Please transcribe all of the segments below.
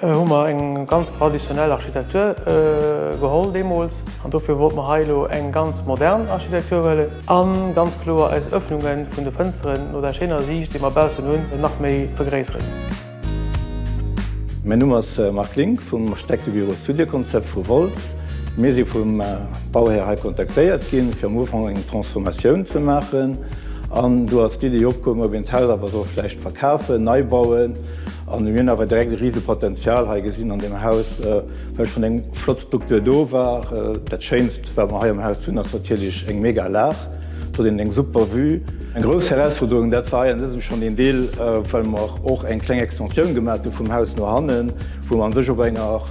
Hu mer eng ganz traditionell Architektur geholl deemools an dofir wollt mer hei elo eng ganz modern Architektur huelen a ganz kloer eis Ëffnunge vun de Fënsteren no der schéiner Siicht, déi mer baussen hunn, nach méi vergréisseren. Mäin Numm ass Marc Link vum Architektebüro Studio Concept vu Wolz. Mir si vum Bauhär hei kontaktéiert ginn, fir am Ufank eng Transformatioun ze maachen an do ass d'Iddi opkoum, ob een d'Haus awer soll vläicht verkafen, nei bauen. An mir hunn awer direkt e rise Potenzial hei gesinn an deem Haus, well schonn eng flott Struktur do war. Dat Schéinst, wat mer hei am Haus hunn, ass natierlech eng mega Lag. Do huet een eng super Vue. Eng grouss Herausforderung, dat war hei an dësem schonn een Deel, well mer och eng kleng Extensioun gemaach hu vum Haus no hannen, wou mer an sech op enger.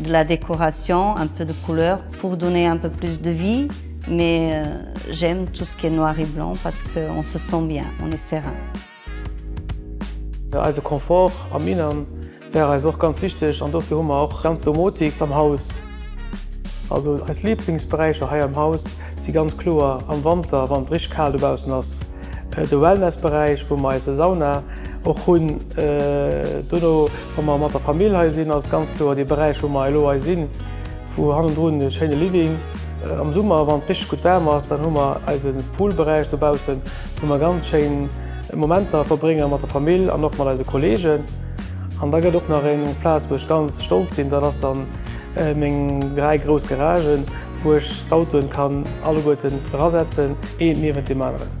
De la décoration, un peu de couleur pour donner un peu plus de vie mais j'aime tout ce qui est noir et blanc parce que on se sent bien, on est serein. Eise Confort am Innern wär eis och ganz wichteg an dofir hu mer och ganz Domotik am Haus. Also eis Liblingsberäicher hei am Haus si ganz kloer am Wanter, wann et richteg kal dobaussen ass, de Wellnessberäich wou mer eise Sauna och hunn, dono. Wa mer mat der Famill hei sinn, ass et ganz kloer dee Beräich, wou mer elo hei sinn, wou hannendrun e schéine Living. Am Summer, wann et richteg gutt waarm ass, dann hu mer eise Poolberäich dobaussen, wou mer ganz schéin Momenter verbrénge mat der Famill an och mat eise Kolleegen. An da gëtt och nach eng Plaz, wou ech ganz stolz sinn, dat ass dann meng dräi grouss Garagen, wou ech d'Autoen kann alleguerten erasetzen, eent niewent deem aneren.